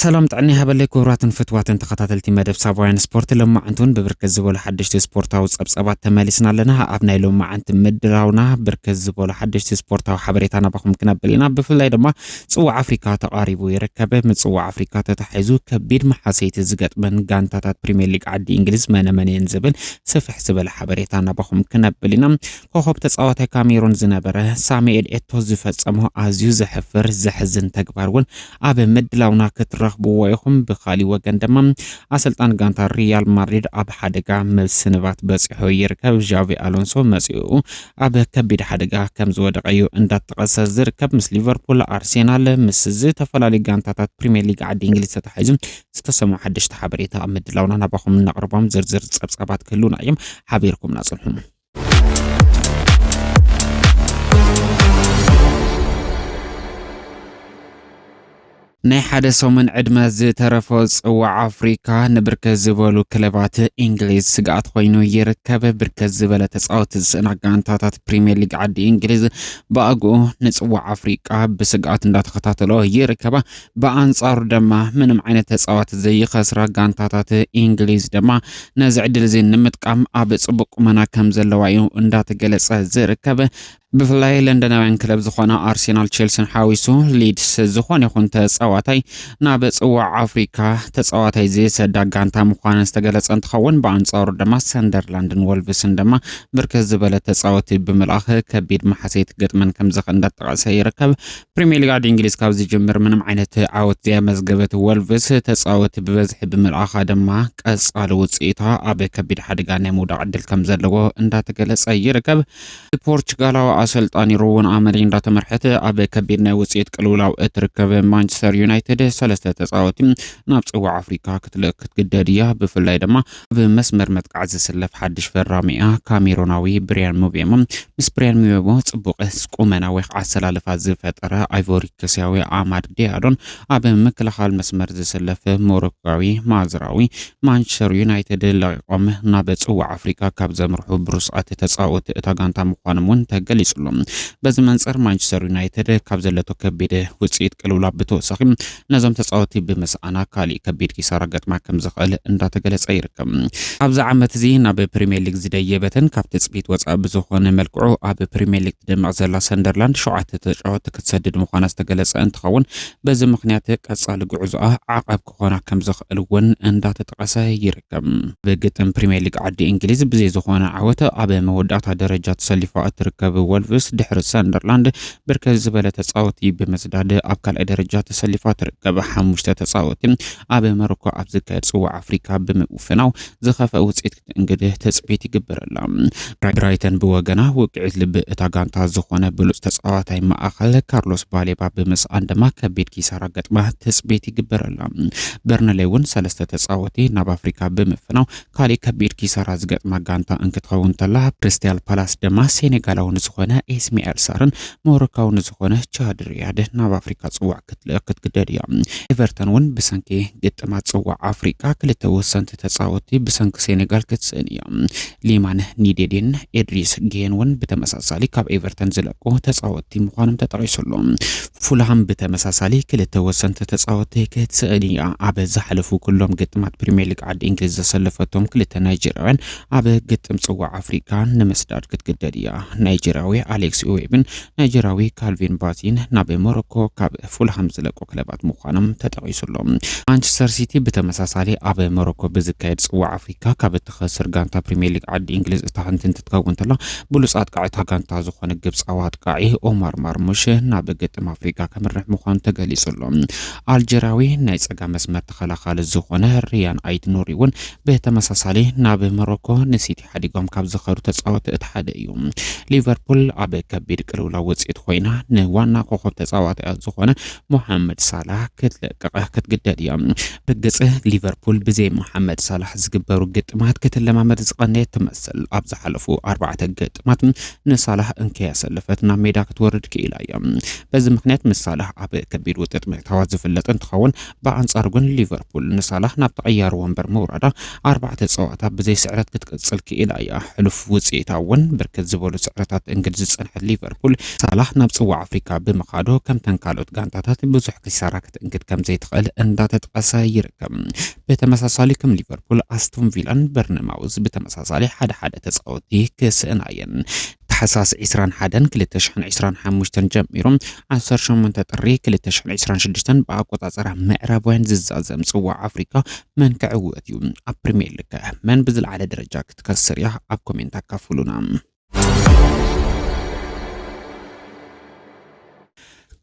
ሰላም ጥዕና ይሃበለይ ክቡራትን ፍትዋትን ተኸታተልቲ መደብ ሳባውያን ስፖርት ሎማዓንቲውን ብብርክት ዝበሉ ሓደሽቲ ስፖርታዊ ጸብጸባት ተመሊስና ኣለና ኣብ ናይ ሎማዓንቲ ምድራውና ብርክት ዝበሉ ሓደሽቲ ስፖርታዊ ሓበሬታ ናባኹም ክነብል ኢና ብፍላይ ድማ ፅዋዕ ኣፍሪካ ተቓሪቡ ይርከብ። ምፅዋዕ ኣፍሪካ ተታሒዙ ከቢድ መሓሰይቲ ዝገጥመን ጋንታታት ፕሪሚየር ሊግ ዓዲ እንግሊዝ መነ መን እየን ዝብል ስፍሕ ዝበለ ሓበሬታ ናባኹም ክነብል ኢና። ኮኾብ ተፃዋታይ ካሜሩን ዝነበረ ሳሙኤል ኤቶ ዝፈፀሞ ኣዝዩ ዘሕፍር ዘሕዝን ተግባር እውን ኣብ ምድላውና ክትረኽብዎ ኢኹም። ብኻሊእ ወገን ድማ ኣሰልጣን ጋንታ ሪያል ማድሪድ ኣብ ሓደጋ ምስንባት በፂሑ ይርከብ። ዣቪ ኣሎንሶ መፂኡ ኣብ ከቢድ ሓደጋ ከም ዝወደቐ'ዩ እንዳተጠቐሰ ዝርከብ። ምስ ሊቨርፑል፣ ኣርሴናል ምስ ዝተፈላለዩ ጋንታታት ፕሪምየር ሊግ ዓዲ እንግሊዝ ተተሓሒዙ ዝተሰምዑ ሓደሽቲ ሓበሬታ ኣብ ምድላውና ናባኹም እነቕርቦም ዝርዝር ጸብጻባት ክህሉና እዮም። ሓቢርኩምና ጽንሑ። ናይ ሓደ ሰሙን ዕድመ ዝተረፎ ጽዋዕ ኣፍሪካ ንብርክት ዝበሉ ክለባት እንግሊዝ ስግኣት ኮይኑ ይርከብ። ብርክት ዝበለ ተፃወቲ ዝስእና ጋንታታት ፕሪምየር ሊግ ዓዲ እንግሊዝ ብኣግኡ ንጽዋዕ ኣፍሪቃ ብስግኣት እንዳተኸታተሎ ይርከባ። ብኣንጻሩ ድማ ምንም ዓይነት ተፃዋቲ ዘይኸስራ ጋንታታት እንግሊዝ ድማ ነዚ ዕድል እዚ ንምጥቃም ኣብ ጽቡቅ ቁመና ከም ዘለዋ እዩ እንዳተገለጸ ዝርከብ። ብፍላይ ለንደናውያን ክለብ ዝኾና ኣርሴናል ቼልሲን ሓዊሱ ሊድስ ዝኾነ ይኹን ተፃዋታይ ናብ ፅዋዕ ኣፍሪካ ተፃዋታይ ዝሰዳ ጋንታ ምዃነን ዝተገለፀ እንትኸውን ብኣንፃሩ ድማ ሰንደርላንድን ወልቭስን ድማ ብርክት ዝበለ ተፃወቲ ብምልኣኽ ከቢድ መሓሰይ ትገጥመን ከምዘኽ እንዳጠቐሰ ይርከብ። ፕሪሚየር ሊግ ዓዲ እንግሊዝ ካብ ዝጅምር ምንም ዓይነት ዓወት ዘያመዝገበት ወልቭስ ተፃወቲ ብበዝሒ ብምልኣኻ ድማ ቀፃሊ ውፅኢታ ኣብ ከቢድ ሓደጋ ናይ ምውዳቕ ዕድል ከምዘለዎ እንዳተገለፀ ይርከብ። ብፖርቹጋላዊ ኣሰልጣኒ ሩወን ኣመሪም እንዳተመርሐት ኣብ ከቢድ ናይ ውፅኢት ቅልውላው እትርከብ ማንቸስተር ዩናይትድ ሰለስተ ተፃወቲ ናብ ፅዋዕ ኣፍሪካ ክትልእክ ክትግደድ እያ። ብፍላይ ድማ ኣብ መስመር መጥቃዕ ዝስለፍ ሓድሽ ፈራሚ እያ ካሜሮናዊ ብሪያን ሙቤሞ። ምስ ብሪያን ሙቤሞ ፅቡቅ ቁመና ወይ ከዓ ኣሰላልፋ ዝፈጠረ ኣይቮሪኮስያዊ ኣማድ ዲያሎን ኣብ ምክልኻል መስመር ዝስለፍ ሞሮካዊ ማዝራዊ ማንቸስተር ዩናይትድ ለቒቖም ናብ ፅዋዕ ኣፍሪቃ ካብ ዘምርሑ ብሩሳት ተፃወቲ እታ ጋንታ ምዃኖም እውን ተገሊጹሉ። በዚ መንፅር ማንቸስተር ዩናይትድ ካብ ዘለቶ ከቢድ ውፅኢት ቅልውላብ ብተወሳኺ ነዞም ተፃወቲ ብምስኣና ካሊእ ከቢድ ኪሳራ ገጥማ ከም ዝኽእል እንዳተገለፀ ይርከብ። ኣብዚ ዓመት እዚ ናብ ፕሪምየር ሊግ ዝደየበትን ካብ ትፅቢት ወፃኢ ብዝኾነ መልክዑ ኣብ ፕሪምየር ሊግ ትደምቕ ዘላ ሰንደርላንድ ሸውዓተ ተጫወቲ ክትሰድድ ምዃና ዝተገለፀ እንትኸውን በዚ ምኽንያት ቀፃሊ ጉዕዞኣ ዓቐብ ክኾና ከም ዝኽእል እውን እንዳተጠቐሰ ይርከብ። ብግጥም ፕሪምየር ሊግ ዓዲ እንግሊዝ ብዘይ ዝኾነ ዓወት ኣብ መወዳእታ ደረጃ ተሰሊፋ እትርከብ ወልቭስ ድሕሪ ሰንደርላንድ ብርከት ዝበለ ተፃወቲ ብምስዳድ ኣብ ካልኣይ ደረጃ ተሰሊፋ ትርከብ። ሓሙሽተ ተፃወቲ ኣብ መሮኮ ኣብ ዝካየድ ፅዋዕ ኣፍሪካ ብምውፍናው ዝኸፍአ ውፅኢት እንግዲህ ትጽቢት ይግበረላ። ብራይተን ብወገና ውቅዒት ልቢ እታ ጋንታ ዝኾነ ብሉጽ ተጻዋታይ ማእኸል ካርሎስ ባሌባ ብምስኣን ድማ ከቢድ ኪሳራ ገጥማ ትጽቢት ይግበረላ። በርንሌ እውን ሰለስተ ተጻወቲ ናብ ኣፍሪካ ብምፍናው ካሊእ ከቢድ ኪሳራ ዝገጥማ ጋንታ እንክትኸውን ተላ ክሪስታል ፓላስ ድማ ሴኔጋላዊ ንዝኾነ ኤስሚኤል ሳርን ሞሮካዊ ንዝኾነ ቻድ ሪያድ ናብ ኣፍሪካ ፅዋዕ ክትልእኽ ክትግደድ እያ። ኤቨርተን እውን ብሰንኪ ግጥማት ፅዋዕ ኣፍሪቃ ክልተ ወሰንቲ ተፃወቲ ብሰንኪ ሴኔጋል ክትስእን እያ። ሊማን ኒዴዴን ኤድሪስ ጌን እውን ብተመሳሳሊ ካብ ኤቨርተን ዝለቁ ተፃወቲ ምዃኖም ተጠቒሱ ኣሎ። ፉልሃም ብተመሳሳሊ ክልተ ወሰንቲ ተፃወቲ ክትስእን እያ። ኣብ ዝሓለፉ ኩሎም ግጥማት ፕሪሚየር ሊግ ዓዲ እንግሊዝ ዘሰለፈቶም ክልተ ናይጀርያውያን ኣብ ግጥም ጽዋዕ ኣፍሪቃ ንምስዳድ ክትግደድ እያ። ናይጀርያዊ ኣሌክስ ኢዌብን ናይጀርያዊ ካልቪን ባቲን ናብ ሞሮኮ ካብ ፉልሃም ዝለቁ ክለባት ምዃኖም ተጠቒሱ ኣሎ። ማንቸስተር ሲቲ ብተመሳሳሊ ኣብ ሞሮኮ ብዝካየድ ጽዋዕ ኣፍሪካ ካብ እትኸስር ጋንታ ፕሪምየር ሊግ ዓዲ እንግሊዝ እታ ሓንቲ እንትትከውን ተላ ብሉጽ ኣጥቃዒ እታ ጋንታ ዝኾነ ግብጻዊ ኣጥቃዒ ኦማር ማርሙሽ ናብ ግጥም ኣፍሪቃ ከምርሕ ምዃኑ ተገሊጹ ኣሎ። ኣልጀርያዊ ናይ ጸጋ መስመር ተኸላኻሊ ዝኾነ ሪያን ኣይት ኑሪ እውን ብተመሳሳሊ ናብ ሞሮኮ ንሲቲ ሓዲጎም ካብ ዝኸዱ ተጻወቲ እቲ ሓደ እዩ። ሊቨርፑል ኣብ ከቢድ ቅልውላው ውጽኢት ኮይና ንዋና ኮኸብ ተጻዋቲኣ ዝኾነ ሞሓመድ ሳላህ ክትለቅቕ ክትግደድ እያ። ርግጽ ሊቨርፑል ብዘይ ሞሓመድ ሳላህ ዝግበሩ ግጥማት ክትለማመድ ዝቐነየት ትመስል። ኣብ ዝሓለፉ ኣርባዕተ ግጥማት ንሳላህ እንከያሰለፈት ናብ ሜዳ ክትወርድ ክኢላ እያ። በዚ ምክንያት ምስ ሳላህ ኣብ ከቢድ ውጥጥ ምእታዋ ዝፍለጥ እንትኸውን ብኣንጻሩ ግን ሊቨርፑል ንሳላህ ናብ ተቐያሪ ወንበር ምውራዳ ኣርባዕተ ጸዋታ ብዘይ ስዕረት ክትቅጽል ክኢላ እያ። ሕሉፍ ውጽኢታ እውን ብርክት ዝበሉ ስዕረታት እንግድ ዝጸንሐት ሊቨርፑል፣ ሳላህ ናብ ጽዋዕ ኣፍሪቃ ብምኻዱ ከምተን ካልኦት ጋንታታት ብዙሕ ኪሳራ ክትእንግድ ከምዘይትኽእል እንዳተጠቐሰ ይርከብ። ብተመሳሳሊ ከም ሊቨርፑል ኣስቶን ቪላን በርነማውዝ ብተመሳሳሊ ሓደ ሓደ ተጻወቲ ክስእና እየን። ታሕሳስ ዕስራን ሓደን ክልተ ሽሕን ዕስራን ሓሙሽተን ጀሚሩ ዓሰርተ ሸሞንተ ጥሪ ክልተ ሽሕን ዕስራን ሽዱሽተን ብኣቆጻጽራ ምዕራባውያን ዝዛዘም ጽዋዕ ኣፍሪቃ መን ክዕወት እዩ? ኣብ ፕሪምየር ሊግ ከ መን ብዝለዓለ ደረጃ ክትከስር እያ? ኣብ ኮሜንት ኣካፍሉና።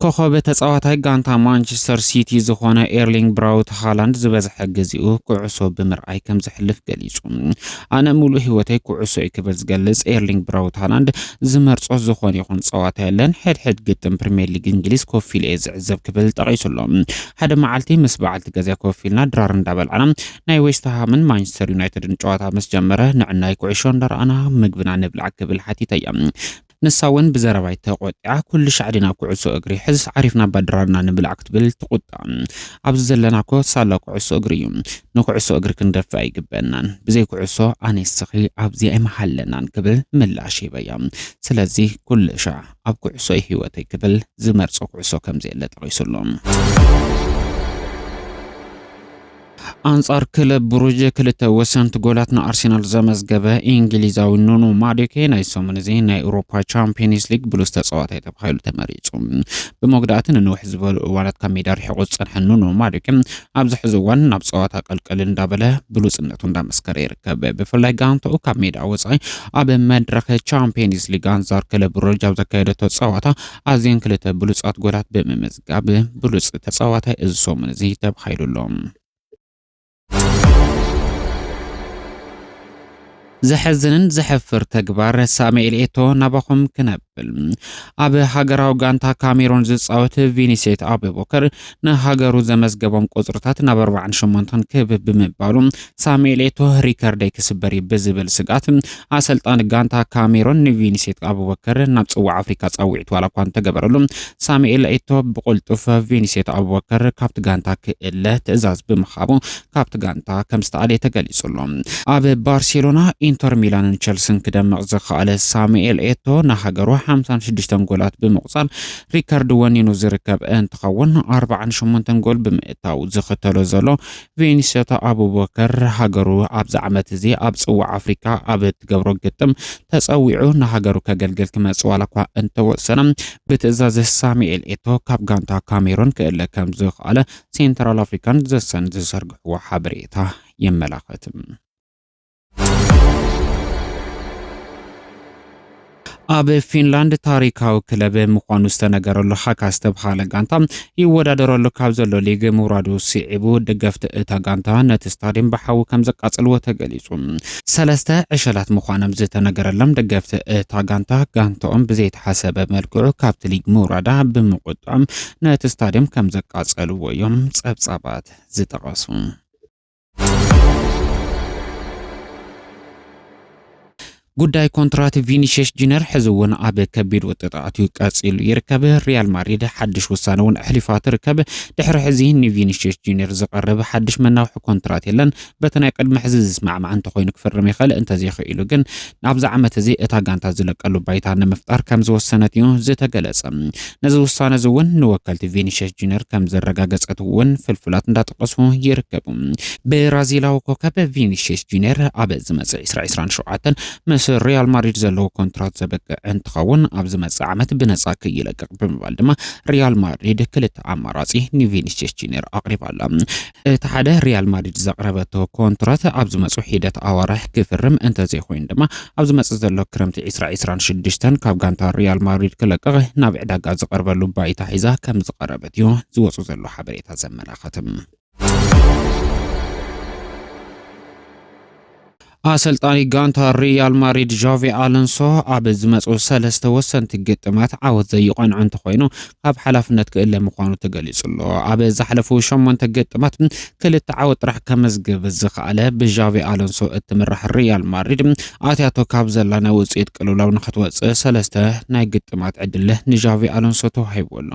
ኮኾብ ተጻዋታይ ጋንታ ማንቸስተር ሲቲ ዝኾነ ኤርሊንግ ብራውት ሃላንድ ዝበዝሐ ግዜኡ ኩዕሶ ብምርኣይ ከም ዘሕልፍ ገሊጹ። ኣነ ምሉእ ህይወተይ ኩዕሶ እዩ ክብል ዝገልጽ ኤርሊንግ ብራውት ሃላንድ ዝመርጾ ዝኾነ ይኹን ጸዋታ የለን፣ ሕድሕድ ግጥም ፕሪምየር ሊግ እንግሊዝ ኮፍ ኢለ እየ ዝዕዘብ ክብል ጠቒሱ ኣሎ። ሓደ መዓልቲ ምስ በዓልቲ ገዛይ ኮፍ ኢልና ድራር እንዳበላዕና ናይ ዌስትሃምን ማንቸስተር ዩናይትድን ጨዋታ ምስ ጀመረ ንዕናይ ኩዕሾ እንዳረኣና ምግብና ንብላዕ ክብል ሓቲተያ። ንሳ እውን ብዘረባይ ተቖጢዓ ኩሉ ሻዕ ዲና ኩዕሶ እግሪ ሕዝስ ዓሪፍና እባ ድራርና ንብላዕ ክትብል ትቑጣዕ። ኣብዚ ዘለና እኮ ሳላ ኩዕሶ እግሪ እዩ። ንኩዕሶ እግሪ ክንደፍእ ኣይግበእናን። ብዘይ ኩዕሶ ኣነ እስኺ ኣብዚ ኣይምሃለናን ክብል ምላሽ ሂበያ። ስለዚ ኩሉ ሻዕ ኣብ ኩዕሶ እዩ ህይወተይ ክብል ዝመርጾ ኩዕሶ ከምዘየለ ጠቒሱሉ። ኣንጻር ክለብ ብሩዥ ክልተ ወሰንቲ ጎላት ንኣርሴናል ዘመዝገበ እንግሊዛዊ ኑኑ ማዱኬ ናይ ሰሙን እዚ ናይ ኤውሮፓ ቻምፒየንስ ሊግ ብሉስ ተጻዋታይ ተባሂሉ ተመሪጹ። ብመጉዳእቲ ንንውሕ ዝበሉ እዋናት ካብ ሜዳ ርሒቑ ዝጸንሐ ኑኑ ማዱኬ ኣብዚ ሕዚ እዋን ናብ ጸዋታ ቀልቀል እንዳበለ ብሉጽነቱ እንዳመስከረ ይርከብ። ብፍላይ ጋንታኡ ካብ ሜዳ ወጻኢ ኣብ መድረኽ ቻምፒየንስ ሊግ ኣንጻር ክለብ ብሩዥ ኣብ ዘካየደቶ ጸዋታ ኣዝየን ክልተ ብሉጻት ጎላት ብምምዝ ጋቢ ብሉጽ ተጻዋታይ እዚ ሰሙን እዚ ተባሂሉ ኣሎ። ዘሐዝንን ዘሐፍር ተግባር ሳሙኤል ኤቶ ናባኹም ክነብል ኣብ ሃገራዊ ጋንታ ካሜሮን ዝፃወት ቪኒሴት ኣቡበከር ንሃገሩ ዘመዝገቦም ቁፅርታት ናብ 48 ክብ ብምባሉ ሳሙኤል ኤቶ ሪከርደይ ክስበር እዩ ብዝብል ስግኣት ኣሰልጣኒ ጋንታ ካሜሮን ንቪኒሴት ኣቡበከር ናብ ፅዋዕ ኣፍሪካ ፃውዒት ዋላ እኳ እንተገበረሉ ሳሙኤል ኤቶ ብቁልጡፍ ቪኒሴት ኣቡበከር ካብቲ ጋንታ ክእለ ትእዛዝ ብምሃቡ ካብቲ ጋንታ ከም ዝተኣለየ ተገሊጹ ኣሎ። ኣብ ባርሴሎና ኢንተር ሚላንን ቸልስን ክደምቕ ዝኸኣለ ሳሙኤል ኤቶ ንሃገሩ 56 ጎላት ብምቑጻር ሪከርድ ወኒኑ ዝርከብ እንትኸውን 48 ጎል ብምእታው ዝኽተሎ ዘሎ ቬኒሰታ ኣቡበከር ሃገሩ ኣብዚ ዓመት እዚ ኣብ ጽዋዕ ኣፍሪቃ ኣብ እትገብሮ ግጥም ተጸዊዑ ንሃገሩ ከገልግል ክመጽእ ዋላ እኳ እንተወሰነ ብትእዛዝ ሳሙኤል ኤቶ ካብ ጋንታ ካሜሮን ክእለ ከም ዝኸኣለ ሴንትራል ኣፍሪካን ዘሰን ዝዘርግሕዎ ሓበሬታ የመላኽት። ኣብ ፊንላንድ ታሪካዊ ክለብ ምዃኑ ዝተነገረሉ ሃካ ዝተብሃለ ጋንታ ይወዳደረሉ ካብ ዘሎ ሊግ ምውራዱ ስዒቡ ደገፍቲ እታ ጋንታ ነቲ ስታድየም ብሓዊ ከም ዘቃጽልዎ ተገሊጹ። ሰለስተ ዕሸላት ምዃኖም ዝተነገረሎም ደገፍቲ እታ ጋንታ ጋንታኦም ብዘይተሓሰበ መልክዑ ካብቲ ሊግ ምውራዳ ብምቁጣም ነቲ ስታድየም ከም ዘቃጸልዎ እዮም ጸብጻባት ዝጠቐሱ። ጉዳይ ኮንትራት ቪኒሽስ ጁነር ሕዚ እውን ኣብ ከቢድ ውጥጣት እዩ ቀፂሉ ይርከብ። ሪያል ማድሪድ ሓድሽ ውሳነ እውን ኣሕሊፋ ትርከብ። ድሕሪ ሕዚ ንቪኒሽስ ጁነር ዝቐርብ ሓድሽ መናውሒ ኮንትራት የለን። በቲ ናይ ቅድሚ ሕዚ ዝስማዕማዕ እንተኮይኑ ክፍርም ይኽእል፣ እንተዘይክኢሉ ግን ናብዚ ዓመት እዚ እታ ጋንታ ዝለቀሉ ባይታ ንምፍጣር ከም ዝወሰነት እዩ ዝተገለጸ። ነዚ ውሳነ እዚ እውን ንወከልቲ ቪኒሽስ ጁኒየር ከም ዘረጋገጸት እውን ፍልፍላት እንዳጠቀሱ ይርከቡ። ብራዚላዊ ኮከብ ቪኒሽስ ጁኒየር ኣብ ዝመጽእ 2027 ምስ ሪያል ማድሪድ ዘለዎ ኮንትራት ዘበቅዕ እንትኸውን ኣብ ዝመጽእ ዓመት ብነጻ ክይለቅቅ ብምባል ድማ ሪያል ማድሪድ ክልተ ኣማራጺ ንቪኒሽስ ጁኒየር ኣቕሪባላ። እቲ ሓደ ሪያል ማድሪድ ዘቕረበቶ ኮንትራት ኣብ ዝመጹ ሒደት ኣዋርሕ ክፍርም እንተዘይኮይኑ ድማ ኣብ ዝመጽእ ዘሎ ክረምቲ ዕስራ ዕስራን ሽዱሽተን ካብ ጋንታ ሪያል ማድሪድ ክለቅቕ ናብ ዕዳጋ ዝቐርበሉ ባይታ ሒዛ ከም ዝቐረበት እዩ ዝወጹ ዘሎ ሓበሬታ ዘመላኸትም። ኣሰልጣኒ ጋንታ ሪያል ማድሪድ ዣቪ ኣሎንሶ ኣብ ዝመፁ ሰለስተ ወሰንቲ ግጥማት ዓወት ዘይቐንዖ እንተኾይኑ ካብ ሓላፍነት ክእለ ምዃኑ ተገሊጹ ኣሎ። ኣብ ዝሓለፉ ሸሞንተ ግጥማት ክልተ ዓወት ጥራሕ ከመዝግብ ዝኸኣለ ብዣቪ ኣሎንሶ እትምራሕ ሪያል ማድሪድ ኣትያቶ ካብ ዘላ ናይ ውፅኢት ቅልውላው ንክትወፅእ ሰለስተ ናይ ግጥማት ዕድል ንዣቪ ኣሎንሶ ተዋሂቡ ኣሎ።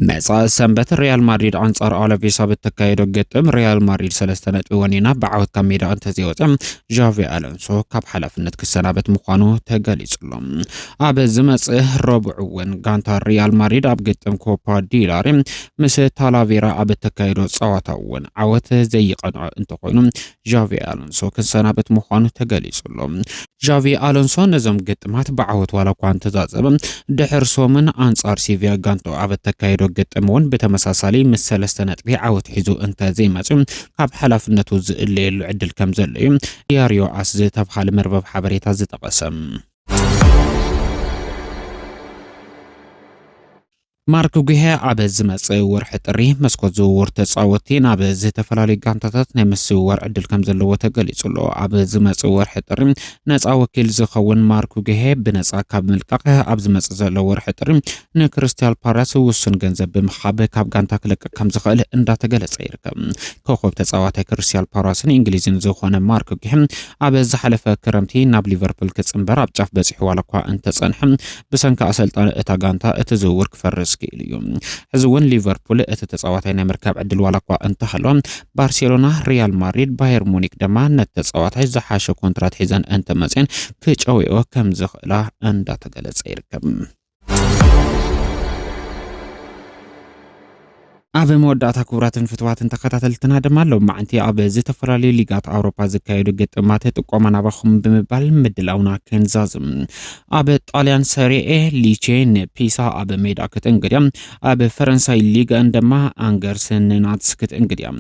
መጻኢ ሰንበት ሪያል ማድሪድ ኣንጻር ኣለቪስ ኣብ እተካየዶ ግጥም ሪያል ማድሪድ ሰለስተ ነጥቢ ወኒና ብዓወት ካብ ሜዳ እንተዘይወፀ ዣቪ ኣሎንሶ ካብ ሓላፍነት ክሰናበት ምዃኑ ተገሊጹሎ ኣብ ዝመጽእ ረቡዕ እውን ጋንታ ሪያል ማድሪድ ኣብ ግጥም ኮፓ ዲላሪ ምስ ታላቬራ ኣብ እተካየዶ ጸዋታ እውን ዓወት ዘይቐንዖ እንተኾይኑ ዣቪ ኣሎንሶ ክሰናበት ምዃኑ ተገሊጹ ኣሎ። ዣቪ ኣሎንሶ ነዞም ግጥማት ብዓወት ዋላ እኳ እንተዛዘበ፣ ድሕር ሰሙን ኣንጻር ሲቪያ ጋንትኡ ኣብ እተካይዶ ግጥም እውን ብተመሳሳሊ ምስ ሰለስተ ነጥቢ ዓወት ሒዙ እንተ ዘይመጽኡ ካብ ሓላፍነቱ ዝእለየሉ ዕድል ከም ዘሎ እዩ ዲያርዮ ኣስ ዝተብሃለ መርበብ ሓበሬታ ዝጠቐሰ። ማርክ ጉሄ ኣብ ዝመጽእ ወርሒ ጥሪ መስኮት ዝውውር ተጻወትቲ ናብ ዝተፈላለዩ ጋንታታት ናይ ምስውዋር ዕድል ከም ዘለዎ ተገሊጹ ኣሎ። ኣብ ዝመጽእ ወርሒ ጥሪ ነጻ ወኪል ዝኸውን ማርክ ጉሄ ብነጻ ካብ ምልቃቕ ኣብ ዝመጽእ ዘሎ ወርሒ ጥሪ ንክሪስታል ፓላስ ውሱን ገንዘብ ብምሃብ ካብ ጋንታ ክለቅቕ ከም ዝኽእል እንዳተገለጸ ይርከብ። ኮኸብ ተጻዋታይ ክሪስታል ፓላስን እንግሊዝን ዝኾነ ማርክ ጉሄ ኣብ ዝሓለፈ ክረምቲ ናብ ሊቨርፑል ክጽንበር ኣብ ጫፍ በጺሑ ዋላ እኳ እንተጸንሐ ብሰንኪ ኣሰልጣኒ እታ ጋንታ እቲ ዝውውር ክፈርስ ክኢሉ እዩ። ሕዚ እውን ሊቨርፑል እቲ ተፃዋታይ ናይ ምርካብ ዕድል ዋላ እኳ እንተሃሎ፣ ባርሴሎና፣ ሪያል ማድሪድ፣ ባየር ሙኒክ ድማ ነቲ ተፃዋታይ ዝሓሸ ኮንትራት ሒዘን እንተመፅኤን ክጨውየኦ ከም ዝኽእላ እንዳተገለፀ ይርከብ። ኣብ መወዳእታ ክቡራትን ፍትዋትን ተኸታተልትና ድማ ሎማዕንቲ ኣብ ዝተፈላለዩ ሊጋት ኣውሮፓ ዝካየዱ ግጥማት ጥቆማ ናባኹም ብምባል ምድላውና ክንዛዝም ኣብ ጣልያን ሰሪኤ ሊቼ ንፒሳ ኣብ ሜዳ ክትእንግድ እያ ኣብ ፈረንሳይ ሊጋን ድማ ኣንገርስ ንናትስ ክትእንግድ እያ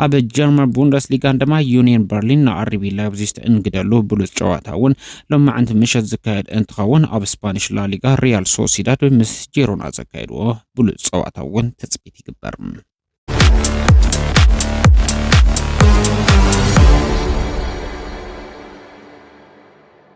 ኣብ ጀርመን ቡንደስ ሊጋን ድማ ዩኒየን በርሊን ንኣርቢ ላይፕዚግ ትእንግደሉ ብሉፅ ጨዋታ እውን ሎማዕንቲ ምሸት ዝካየድ እንትኸውን ኣብ ስፓኒሽ ላሊጋ ሪያል ሶሲዳድ ምስ ጄሮና ዘካየድዎ ብሉፅ ፀዋታ እውን ትፅቢት ይግበር።